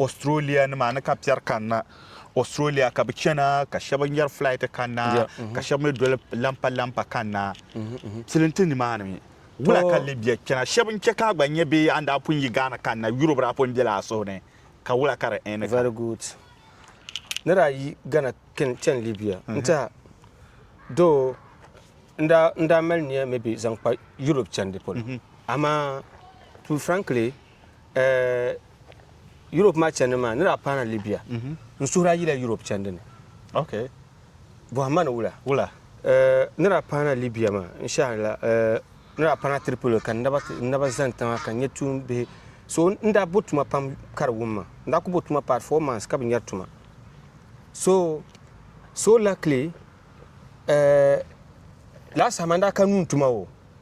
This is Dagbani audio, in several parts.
Australia nima ni ka piɛri kanna Australia ka bi chana ka shɛba nyɛri flight kanna ka shɛba mi doli lampa lampa kanna tili n ti ni maa ni wula ka Libya chana shɛba n chɛ ka a gba nyɛ bee an daa pun yi Ghana kanna Europe daa pun bela a suhu ni ka wula ka di ɛni ka. Very good ni daa yi Ghana chani Libya n tiɛha doo n daa mali niya maybe zaŋ kpa Europe chandi polo amaa to be frankly. eh, Europe maa chɛndi maa ni daa paana Libya mhm. n suhuri a yila Europe chɛndi ni okay bɔhimma ni wula wula eh, ni daa paana Libya maa n shahari la eh, ni daa paana Tripoli ka n naba zani tiŋa ka n nyɛ tuun bihi so n daa bo tuma pam ka di wum ma n daa ku bo tuma paari four months ka bi nyɛri tuma so so luckily eh, last time n daa ka nuun tuma o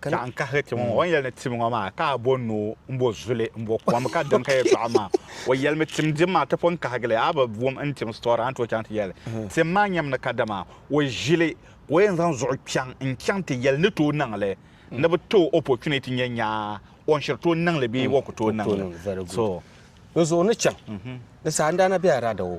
Ka n kahigi ti ŋun o ni yɛli ni tim ŋɔ maa, ka a bo noo m-bo zuli m-bo kom ka daŋ ka yɛtɔɣa maa. O yɛlimi, Tim dim maa, ti pun kahigi li, a bi wum n tim sitɔri a ni tooi chaŋ ti yɛli tim maa nyami ni kadama o ʒili ka o yɛn zaŋ zuɣu chaŋ n-chaŋ ti yɛli ni tooi niŋ li ni bi ti o opportunity nya nya o ni shiri tooi niŋ li bee o ku tooi niŋ li. So. Di zuɣu ni chaŋ ni saɣindaana be a rada o.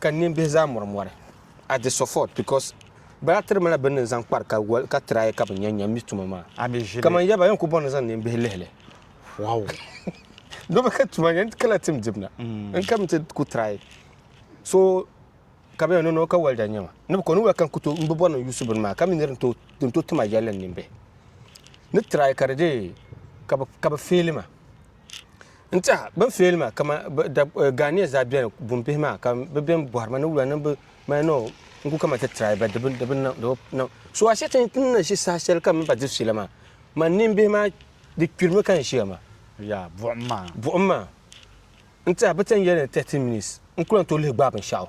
Ka ninbihi zaa mɔri mɔri at the sufot because bɛ daa tiri ma la bini n-zaŋ kpari ka wali ka try ka bɛ nya nya mi tuma maa. A bi ʒili. Kaman yaba yɛn ku bɔŋ ni zaŋ ninbihi lihi li. Wow! Dɔbi ka tuma yɛn ti kala tim dibu na n-ka mi ti ku try so ka bɛ yɛn no no ka wali da nya ma ni bɛ ko ni wali ka n-ku tooi m-bi bɔri ni n-yuusi bini maa ka mi ni di ni tooi ti ma yɛlli n ninbihi ni try ka di dee ka bɛ fail ma. n tiɛha bin feeli maa kama ghaniyɛ zaa biɛni bin bihi maa ka bi biɛni bohari ma ni wula ni bi mali ni n ku kamani ti tirai ba di bi niŋ so a shɛli ti ni na ʒi saha shɛli ka mini ba diri fiila maa man nin bihi maa di kpirimi ka n ʒiya maa buɣum maa n tiɛha bi ti yɛn yɛli ni thirty minutes n ku lahi tooi lihi gbaai binshaɣu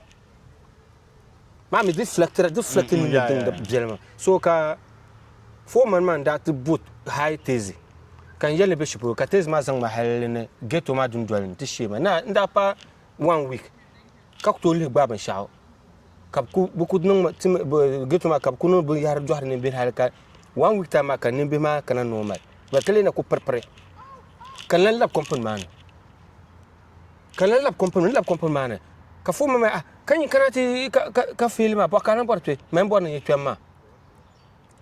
maa mi di flɛkitira di flɛkiti ni ni diŋda biɛli maa so ka foreman maa n daa ti bo high tezi ka n yɛli ni bɛ shi polo ka tezi maa zaŋ ma hali ni ghetto maa dundoli ni ti shee ma na n daa pa one week ka ku tooi lihi gbaai binshɛɣu ka bi ku niŋ ghetto maa ka bi ku niŋ binyahari dɔhiri nimbihi hali ka one week time maa ka nimbihi maa kana normal ka lee na ku piripiri ka n lan labi company maa ni ka n lahi labi kompini ni labi kompini maa ni ka foon ma ah ka nyin kana ti ka fiili maa bɔɣa ka na bɔri kpɛ ma yɛn bɔri ni nyɛ kpɛm maa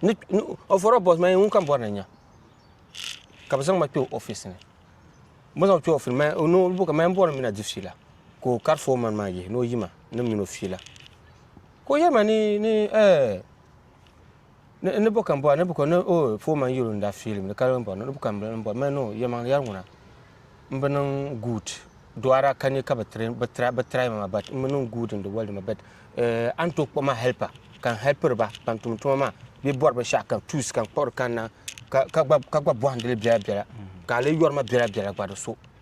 ni o fɔro bɔs ma yɛn ŋun kam bɔri ni nyɛ ka bi zaŋ ma kpɛ oofis ni bi zaŋ kpɛ oofis ma o niŋ buka ma yɛn bɔri mi na di fiila ka o kari foon man maa yihi ni o yima ni mini o fiila ka o yɛli ma ni ni ɛɛ Ni, ni bo ka m-bɔra, ni bo ka, ni, oh, Foreman n-yiri o ni daa fiili mi di karibu ni bɔri ni, ni bo ka m-bɔra, m-bɔri man, oh, yɛlimaŋli yɛri ŋuna m-bi niŋ good, dɔɣira ka nya ka bi train, bi try, bi try ma maa but m-bi niŋ good n-di world maa but eh, a ni tooi kpuɣi ma helper ka n helpiri ba ban tumdi tuma maa bee bɔri binshɛɣu ka tools ka n kpuɣiri ka n na, ka, ka gba, ka gba bɔhindi li biɛla biɛla ka a lee yɔri ma biɛla biɛla gba di so.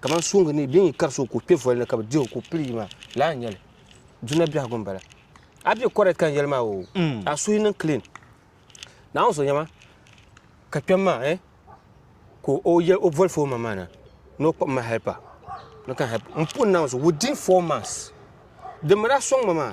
kamani suŋdi ni bɛ yi kari so ka o kpe voli ni ka bɛ dihi o ka o pili yi maa laa n-nyɛ li duna biɛhigu m-bala a be correct ka n yɛli maa o mm. a suhi niŋ clean naawuni so nyɛma ka kpɛm maa eh ka o yɛ o voli foma maa na ni o kpɔm ma helpa ni ka help n puhi naawuni so within four months dimbala sɔŋ ma maa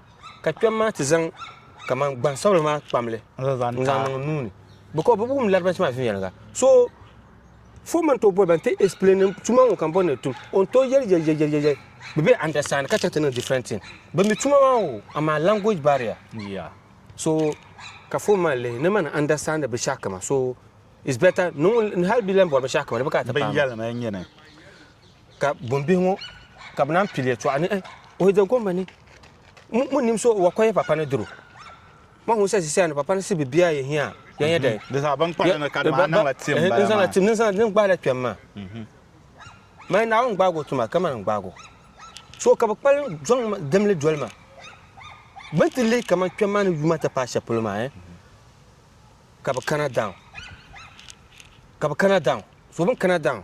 ka kpɛm maa ti zaŋ kamani gbansabila maa kpamli n zaŋ niŋ n nuuni because bi wum laribans maa viɛnyɛliŋga so fo man to boli ban ti explain tuma ŋo kan bori ni tum on to yɛli yɛli yɛli yɛli yɛli bi be understand ka chɛ ti niŋ different thing bi mi tuma maa o amaa language barrier yeah. so ka fo man lihi ni man understand bi shɛhi kama so it's better niŋ hali bi lan bori bi shɛhi kama di bi ka ti paam Binyɛlimi n nyini ka bumbihi ŋo ka bi naan pili yɛtɔɣa ni o da gomba ni mun nim so wa kɔya papa ni duro ma ŋun sa zisia ni papa ni si bi biya yɛ hiya ya yɛ dɛ di zaa ban kpari ni ka di maa niŋla tim bala maa niŋla tim niŋla din gbaala kpɛm maa maa naawuni gbaago tuma ka man gbaago so ka bi kpali zɔŋ dimli doli ma bin ti lihi kamani kpɛm maa ni yuma ti paai shɛli polo maa ka bi kana daŋ ka bi kana daŋ so bin kana daŋ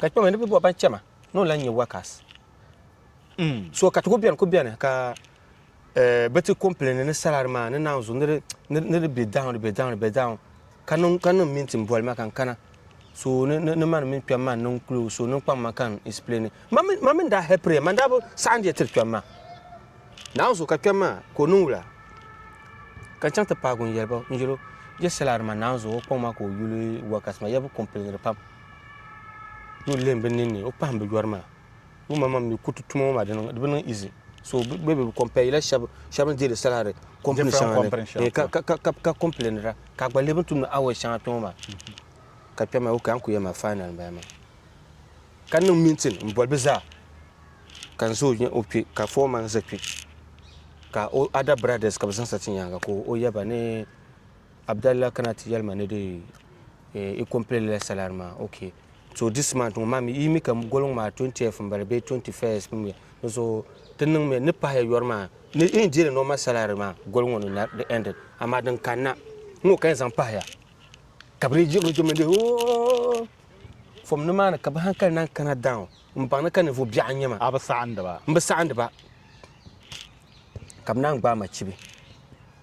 Ka kpɛma ni bi bɔ ban chɛma ni o lan nyɛ wakas. Mm. So ka ti ku bɛni ku bɛni ka eh, bi ti kɔmplɛni ni salari maa ni naanzu ni di bɛ dawn di bɛ dawn di bɛ dawn ka niŋ ka niŋ mini tin boli ma kan kana so ni ni mani mini kpɛm maa niŋ kulo so niŋ kpaŋ ma kan explain ma mini daa hɛpiri ma daa bi saɣan diɛ tiri kpɛm maa naanzu ka kpɛm maa ka o niŋ wula ka chaŋ ti paagi n yɛli ba n yɛlo yɛ salari ma naanzu o kpaŋ maa ka o yuli wakas ma yɛ bi kɔmplɛniri pam ni o lihim bi ninni o pahim bi yɔri maa ŋun ma mam mi kuriti tuma ŋɔ maa di bi niŋ izi so bɛ bi kɔmpɛyila shɛba ni deeri salari kɔmpini shɛŋa ni ka kɔmpilinira ka gba lihi bi tumdi awɔsi shɛŋa kpɛ ŋɔ maa ka kpɛm maa ok an ku yɛli maa fainal m-bala maa ka niŋ mintin m-boli bi zaa ka n zo o kpɛ ka fɔɔman za kpɛ ka o ada biradɛs ka bi zaŋ sa ti nyaaŋa ka o yaba ni Abdallah kana ti yɛli ma ni di i complete la salary maa ok so this month ŋɔ maa mi yi mi ka goliŋ maa 20th m-bala bee 21st m-bala di zuɣu ti niŋ mi ni pahiya yɔri maa ni yi ni deeri normal salary maa goli ŋɔ ni na di ended amaa din kanna ŋɔ ka yi zaŋ pahiya ka bɛ lee jibiri jibiri n-deei ooh from nimaani ka bɛ hankali naan kana down m-baŋ ni ka ninvuɣ biɛɣu n-nyɛ ma A bi saɣindi ba? m bi saɣindi ba ka bɛ naan gbaai ma chibi.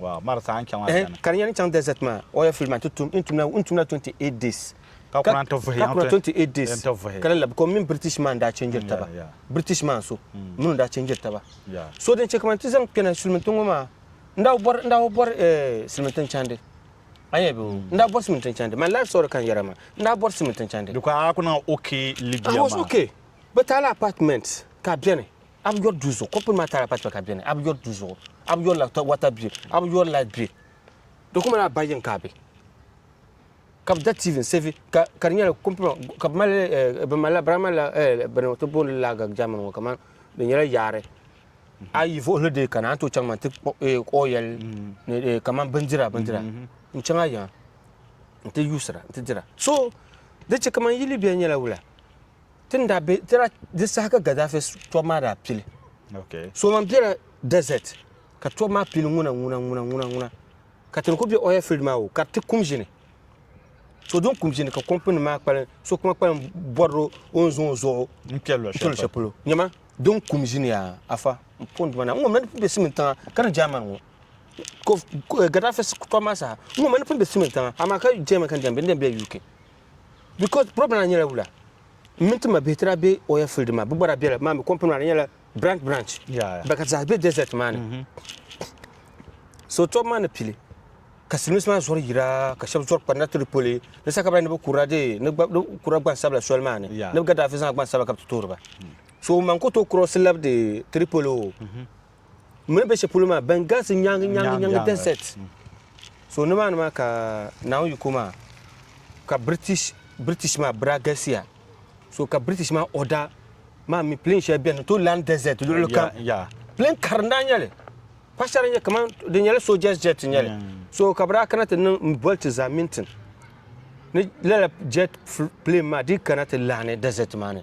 Ka di nyɛla n chaŋ dɛzɛt maa oya field maa n tumla 28 days ka kuna n ti vuhi ka kuna 28 days ka lala because mini British maa n daa chɛnjiri taba British maa so mini n daa chɛnjiri taba so din chɛ kamani ti zaŋ kpɛna sulimintin ŋɔ maa n daa bɔri n daa bɔri sulimintin chandi a yɛn bɛ n daa bɔri sulimintin chandi my life story kan yɛra maa n daa bɔri sulimintin chandi because a ku niŋ okay Libya maa I was okay but a la apartment ka bɛni A bi yɔri duu zuɣu, kɔmpini maa taara patikpa ka a beni, a bi yɔri duu zuɣu, a bi yɔrila wata bill, a bi yɔri light bill. Di ku mali a ba yiŋ ka a be. Ka bi da TV n sevi ka ka di nyɛla kɔmpini maa ka bi mali bi malila birahi malila bini ti booni lager German ŋɔ kaman di nyɛla yaari. A yi vuɣili dee kana a ni tooi chaŋ man ti oil ni kaman bindira bindira n chaŋ a yiŋa n ti yuusira n ti dira. So di che kaman yi Libya nyɛla wula? Ti ni daa be di saha ka Gaddafi tɔbu maa daa pili. So man bela desert ka tɔbu maa pili ŋuna ŋuna ŋuna ŋuna ŋuna ka ti ni ku be oil field maa o ka di ti kum ʒini. So din kum ʒini ka company maa kpalim so kuma kpalim bɔri o o ni zaŋ o zuɣu n-kpe luɣi shɛli polo. Nyama din kum ʒini yaa Afa n pɔndi ma na n ŋɔ mi ni pun be simin tiŋa ka ni German ŋɔ Gaddafi tɔbu maa saha n ŋɔ mi ni pun be simin tiŋa amaa ka German ka ni daa be n daa bela UK. because problem maa nyɛla wula n mini ti ma bihi ti daa be oil field maa bɛ gba daa bela maa mi company maa di nyɛla branch branch Yeah, yeah. baka zaa be desert maa ni so tɔbu maa ni pili ka silimiinsi maa zɔri yira ka shɛba zɔri kpanina Tripoli ni sa ka bɛ daa ni bɛ kurila dee ni gba- ni bɛ kurila gbansabila soli maa ni Yeah. ni bɛ Gaddafi zaŋla gbansabila ka bɛ ti toori ba so ŋun man ku tooi cross labdi Tripoli o mini bɛ shɛli polo maa ban galisi nyaŋi nyaŋi nyaŋi desert mm. so nimaani maa ka naawuni yiko maa ka british british maa bira galisiya so ka british maa order maa mi plane shɛli bɛni to land desert luɣuli kam plane kari daa nyɛli pa shɛli nyɛ kaman di nyɛla soldiers jet nyɛli so ka bira kana ti niŋ boli ti za mintin ni lala jet plane maa di kana ti laani desert maa ni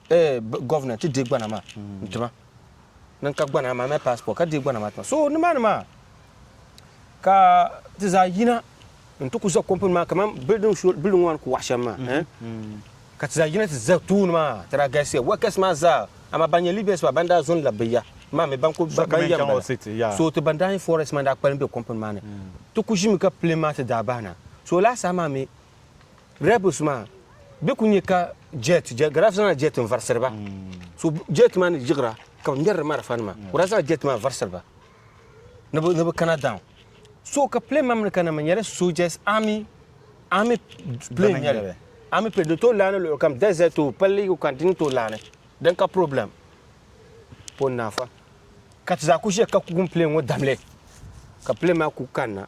eh, governor ti deei gbana maa n ti ma ni n ka gbana maa mali passport ka deei gbana maa ti ma so nimaani maa ka ti zaa yina n ti ku za company maa kaman building shuli building ŋɔ ni ku waɣa shɛm maa eh, ka ti zaa yina ti za tooni maa ti daa galisiya workers maa zaa amaa ban nyɛ Libyans maa ban daa zo n-labi bi ya maa mi ban ku So ka ban mini yɛm chaŋ o bala city, yeah. so ti ban daa nyɛ foreigners maa daa kpalim be company maa ni ti ku ʒimi ka plane maa ti daa bahi na so laasaha maa mi Rebels maa bɛ ku nyɛ ka jet garaaf zaŋla jet n varisiri ba so jet maa ni yiɣira ka bi ŋmɛriri marafa nima ka daa zaŋla jet maa varisiri ba ni bi kana down so ka plane maa mi ni kana mi nyɛla soldiers army army plane nyɛli army plane di tooi laani luɣuli kam desert o palli o kan dini tooi laani din ka problem pon naafa ka ti zaa ku ʒiya ka kugun plane ŋɔ damli ka plane maa ku kanna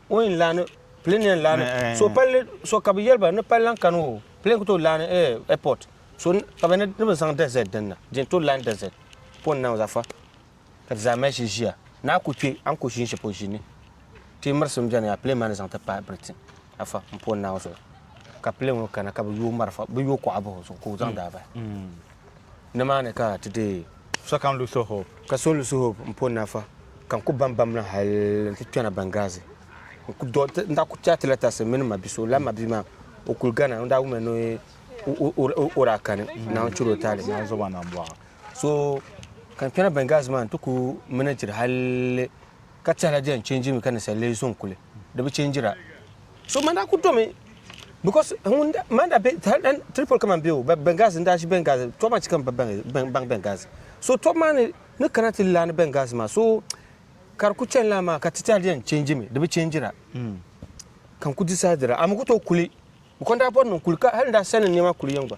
O yɛn laani plane yɛn laani eh. so palli so ka bi yɛli ba ni palli lan kani o plane ku tooi laani eh, airport so ka bi ni bi zaŋ desert din na din tooi laani desert pon na zafa ka ti zaa mali shili ʒiya ni a ku kpɛ a ni ku ʒini shɛli polo ʒini ti mirisi n bɛni yaa plane maa ni zaŋ ti paai Britain afa n pon na zuɣu ka plane ŋɔ kana ka bi yooi marafa bi yooi kuɣa bahi o zuɣu ka o zaŋ daa bahi. Mm. Nimaani ka ti deei sokam Luso Hope. Ka so Luso Hope m-po nafa ka n ku bam bamlim hal nti kpɛna Bɛngazi. N ku dɔɣi ti, n daa ku kpɛri ti lɛtasi mini ma bi so. Lala ma bi maa, o kuli gana. O daa wumya ni o daa kani, Naawuni chɛla o taali. So ka n kpɛna Bɛngazi maa, n ti ku minijiri hal Ka tɛha la di yɛn chɛnjirimi ka ninsal lee zo n-kuli, di bi chɛnjira. So man daa kuli domi, because ŋun daa, man daa be Tripoli kaman be o, Benghazi, n-daa ʒi Benghazi, tɔbu maa chɛ ka m ba baŋ Benghazi. So tɔbu maa ni ni kana ti laani Benghazi maa, so ka di kuli chani lala maa, ka ti tɛha di yɛn chɛnjimi, di bi chɛnjira, ka n kuli disaidira, a mi ku tooi kuli, bikɔŋ daa bɔri ni n kuli, ka hal n daa sani n nɛma kuli yiŋ gba.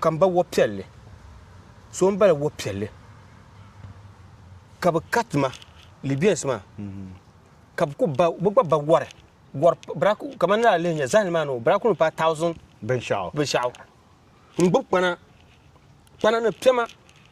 ka m ba wo piɛlli, so m-bala wo piɛlli, ka bɛ kati ma, Libyans maa, ka bɛ ku ba, bɛ gba ba wari, wari bira ku, kamani ni daa lihi nya zahindi maa ni o bira ku ni paai thousand binshɛɣu, n-gbubi kpana, kpana ni piɛma.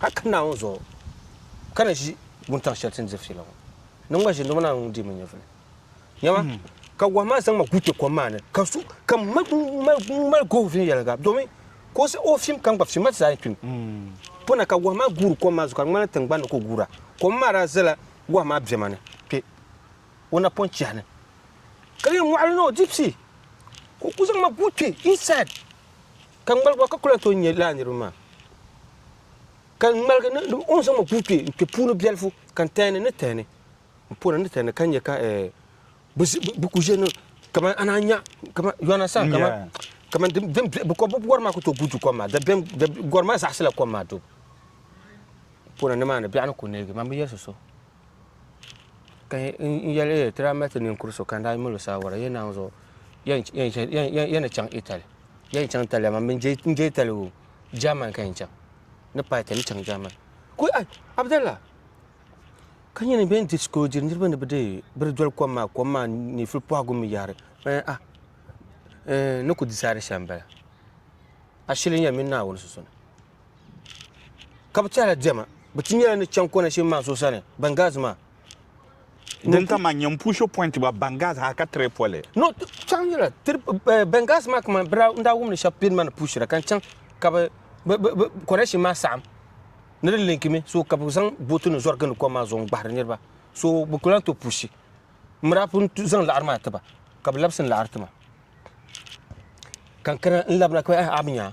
Hal ka Naawuni zuɣu ka ni ʒi wuntaŋ shɛli ti ni diri fiila ŋɔ, ni n gba ʒini dama Naawuni ŋun dihi ma nyɛvili. Nyama, ka wahu maa zaŋ ma guuti kom maa ni, ka su, ka m mali gooi viɛnyɛliŋga, domin ka o siɣi o fim ka m gba fim, ma ti zaa ni kpim. Puna ka wahu maa guuri kom maa zuɣu ka di ŋmanila tiŋgbani ni ka o guura. Kom maa daa zala wahu maa bɛma ni kpe o napɔn chiha ni, ka di yɛn mɔɣili ni o di pii, ka o kuli zaŋ ma guui kpe inside. Ka n ŋmaligi ba ka ku lahi tooi nya lala niriba maa. Ka n ŋmaligi ni o ni zaŋ ma ku kpe n kpe puuni biɛlifu, ka n tɛhini ni tɛhini, n pɔna ni tɛhini ka nya ka bɛ ku ʒe ni kaman ana nya, kaman, you understand, kaman din biɛhigu, bɛ kɔbbu gɔri maa ku tooi guui du kom maa, gɔri maa zaɣisila kom maa dubu. N pɔna nimaani biɛɣu ni ku neegi ma, m bi yɛli so so. Ka n yɛli ti daa mali ti ninkuri so ka n daa mali o saawara yɛn naangu zuɣu yɛn ni chaŋ itali yɛn ni chaŋ itali amaa n je itali o jaaman ka yɛn chaŋ ni paai ka ni chaŋ jaaman abdalla ka nyɛ ni bɛn discourage niraba ni bi di doli kom maa kom maa ni fuli pɔhigu mii yaɣari ni ku disaadi shɛm n bala ashili n yɛn mini naawuni sunsuuni ka bi tɛhila diɛma bi ti nyɛla ni chaŋ kɔna shim maa so sani Benghazi maa din ka man nyɛ push point ba Benghazi ha ka tiri poli no chaŋ nyɛla eh, Benghazi maa kaman bira n daa wumni shɛba pini mani pushira ka n chaŋ ka bi kɔna shim maa saɣam ni di linki mi so ka bi zaŋ booti ni zɔri gindi kom maa zuɣu n gbahiri niriba so bi kula to pushi mura pun zaŋ laɣari maa tiba ka bi labisi n laɣari tima kankana n labina ka a bi nyaa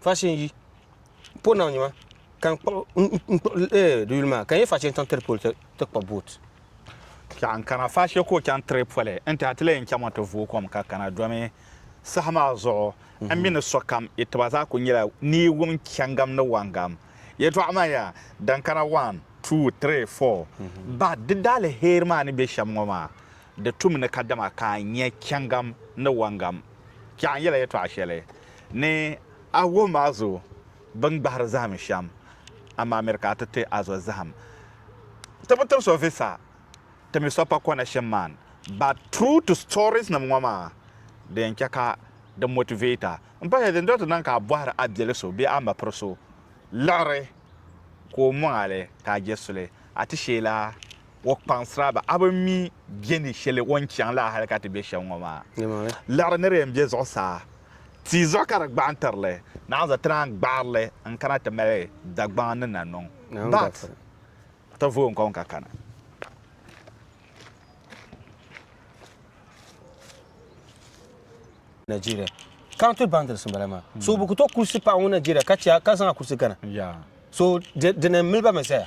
Fachin yi po nam nyima ka n kpuɣi n kpuɣi eh, di yuli maa ka n yɛ fachin chaŋ tiri poli ti ti kpa boot. Ka n kana fache ka o chaŋ tiri poli n tɛha ti lee n chaŋmi ti vooi kom ka kana domi saha maa zuɣu n mi ni sokam yi tiba zaa kuli nyɛla ni yi wum chɛŋgam ni wɔŋgam yɛltɔɣa maa yaa din kana wan, tuu, tiri, fɔɔ bahi di daaliheri maa ni be shɛm ŋɔ maa di tum ni kadama ka a nya chɛŋgam ni wɔŋgam. Ka n yɛla yɛltɔɣa shɛli Ni a wum a zo bɛn gbahiri zahim shɛm, amaa miri ka a ti ti a zo zahim. Ti bi tib so visa, ti mi so pa connection man. But true to stories nim ŋɔ maa, di yɛn chɛ ka di motivate a. M pahila din doli ti niŋ ka a bɔhiri a biɛli so bee a mapiri so liɣiri ka o mɔŋ a li ka a je suli, a ti sheela o kpaŋsira ba a bi mi bɛ ni shɛli o ni chaŋ la hali ka ti be shɛm ŋɔ maa. Liɣiri ni di yɛn be zuɣusaa. Ti zuɣu ka di gbaɣi tiri li. Naan za ti naan gbaɣiri li n kana ti mali Dagbaŋ ni na niŋ but ti vooi n kom ka kana. Nigeria county boundaries n bala maa so bi ku to kurisi paɣa ŋun Nigeria ka chɛ ka zaŋ a kurisi gana so di ni mili ba mi zaya.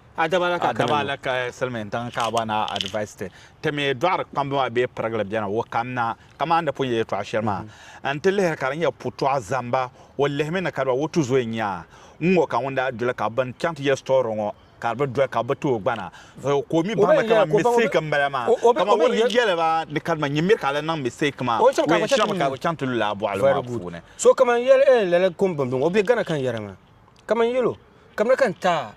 A daba alaka Silimiintiŋ Kaaba Naa advice ti ti mi dɔɣiri kpamba maa bee pirigili beni o kam na ka maa ni di pun yɛ yɛtɔɣa shɛli maa n ti lihiri ka di nyɛ putɔɣu zamba o lihimi ni kadiba o tuzoya nya ŋ-ŋɔ ka ŋun daa doli ka bɛn chaŋ ti yɛli story ŋɔ ka di bi doli ka bɛ ti o gbana ka o mi baŋmi kaman mistake m-bala maa kaman o ni yɛli ba ni kadiba nyin miri ka a lan niŋ mistake maa o yɛn chaŋmi ka bɛ chaŋ ti lula a bɔɣili maa puuni. So kaman yɛli ɛɛn lala kom bɛn bɔŋɔ o be Ghana ka n yɛra maa kaman yɛlo kamina ka n taai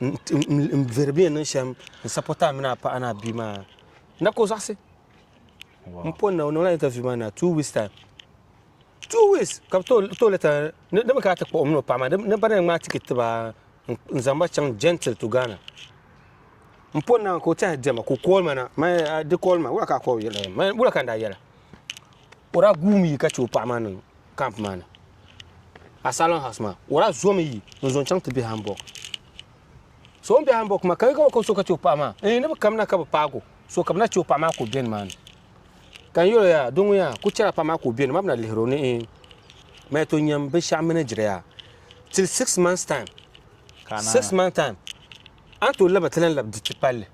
n veri bɛ niŋ shɛm n sapota mini a paɣa ni a bia maa na ka o zaɣisi n pɔ na o niŋla interview maa na two weeks time two weeks ka bi to lɛta ni bi kana ti kpuɣi o mini o paɣa maa ni bana ŋmaa tikit tiba n zaŋ ba chaŋ gentle to Ghana n pɔ na ka o tiɛhi diɛma ka o call ma na di call ma wula ka a call yɛla wula ka n daa yɛla o daa guumi yi ka chɛ o paɣa maa niŋ camp maa ni asylum house maa o daa zomi yi n zo n chaŋ ti bɛ Hamburg so n bɛ Hamburg maa ka yi ka ka so ka chɛ o paɣa maa ni bi kamina ka bi paagi o so ka bi na chɛ o paɣa maa ka o bɛ nimaani ka n yɛlo yaa doo ŋun yaa ku chɛla paɣa maa ka o bɛ ni maa bi na lihiri o ni n mali to nyɛm binshaɣu mini diri yaa till six months time six months time an to laba ti lan labi diriti palli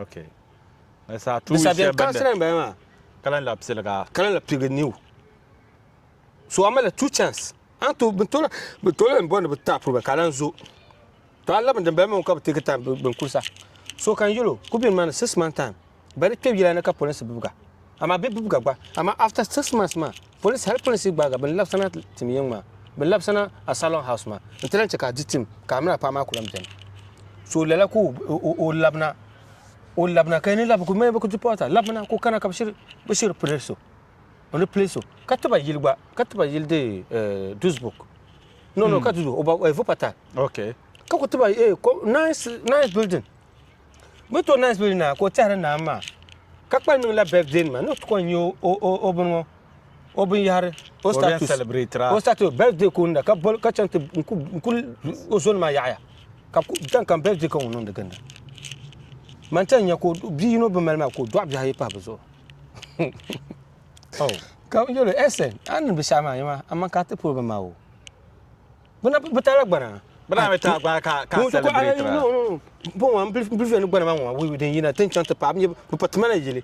okay Ni saa tuui shɛli bɛn daa ka lan lahi piliga. Ka lan lahi piligi niu. So a malila two chance. An to bin tola bin tola lan bɔri ni bi taapiri ba ka lan zo. To a labin din bala mi ka bi take time bin kulisa. So kan yɛlo ku bini maa ni six month time ba di kpɛb yila ni ka polinsi bibiga. Amaa bi bibiga gba amaa after six months maa polinsi hali polinsi gbaaga bin labisana tim yiŋ maa bin labisana a salon house maa n ti lan chɛ ka a di tim ka a mini a paɣa maa ku lan bɛni. So lala ka o labina. o labina ka ni labi ku mɛ bi ku dipɔta labina ku kana ka bi shiri bi shiri pili so o ni pili so ka tiba yili gba ka tiba yili de eh, dusbuk no no ka dudu o ba eh, vupata ok ka ku tiba eh, ko- nice nice building bi to nice building na ka o tɛhiri naan maa ka kpali niŋla birthday nima ni o ti kɔn nyɛ o- o o- o bini ŋɔ o binyɛhiri o status o status birthday ka o niŋda ka bol ka chaŋ ti n ku o zoni maa yaɣaya ka tan kam birthday ka ŋun niŋdi ginda man tan nya ka bia yino bi mali maa ka o dɔɣi bihi ayi pahi bi zuɣu oh. ka yɛlo ɛsɛn a ni bi shɛhi maa yɛ maa aman ka ti polo bi maa o bi taala gbana bana mi ta gba ka ka celebrate ra bon wa bilifiya ni gbana ma wa wi den yina tin chan ta pa mi pa tumana yili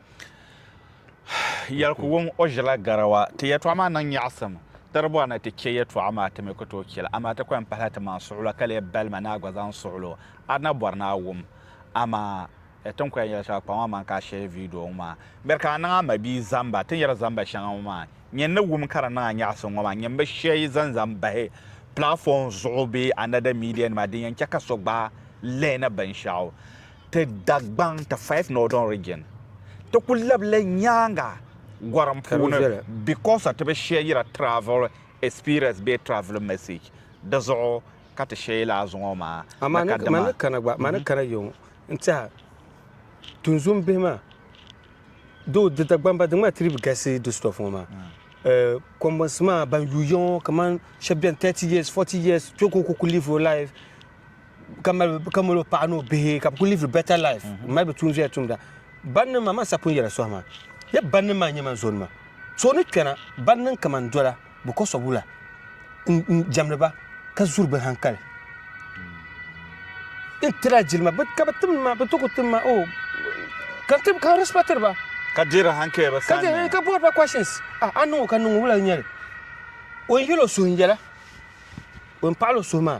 Yɛli ku wuŋ o ʒila garawa. Ti yɛtɔɣa maa niŋ nyaɣisim. Di di bɔri ni ti chɛ yɛtɔɣa maa ti mi ku tooi chɛ li, amaa ti ku yɛn pahila ti maŋ suɣulo ka lee bali ma ni a gba zaŋ suɣulo. A di na bɔri ni a wum, amaa ti ni ku yɛn yɛli shɛli kpaŋmaŋ maa ka a shɛli viidiyo ŋɔ maa. Miri ka a niŋ a mabia zamba ti ni yɛri zamba shɛŋa ŋɔ maa. Nyini ni wum ka di niŋ a nyaɣisim ŋɔ maa, nyini bi shɛ yi zaŋ zaŋ bahi platform zuɣu bee another media nima din yɛn chɛ ka so gbaai lihini binshɛɣu. Ti Dagbaŋ ti five Northern Region ti ku labila nyaaŋa gɔrim puuni because ti bi shɛyira travel experience bee travelling message di zuɣu ka ti shɛyila a zuŋɔ maa ni ka dima. Mani kana gba mani kana yiŋ n tiɛha tunzun bihi maa doo di Dagbaŋ ba di ŋmaa ti di bi galisi di stuff ŋɔ maa kɔmbunsi maa ban yuui yiŋɔ kaman shɛba beni thirty years forty years chɛ ka o ku ku live o life ka mali ka mali paɣa ni o bihi ka bi kuli live better life mm-hmm. mali bi tuun zuya tumda banni maa man sapun yɛla sohi maa ya banni maa nyɛ man zoni ma so ni kpɛna banni n kaman dola bi kɔsɔ wula n jɛmdi ba ka zuri bi hankali n tira jilima ka bi tim ma bi to ku tim ma o oh, ka tim ka respectiri ba ka dira hankali ba sani eh, ka board ba questions ah, a niŋo ka niŋo wula n nyɛli o n yɛlo suhu n yɛla o n paɣalo suhu maa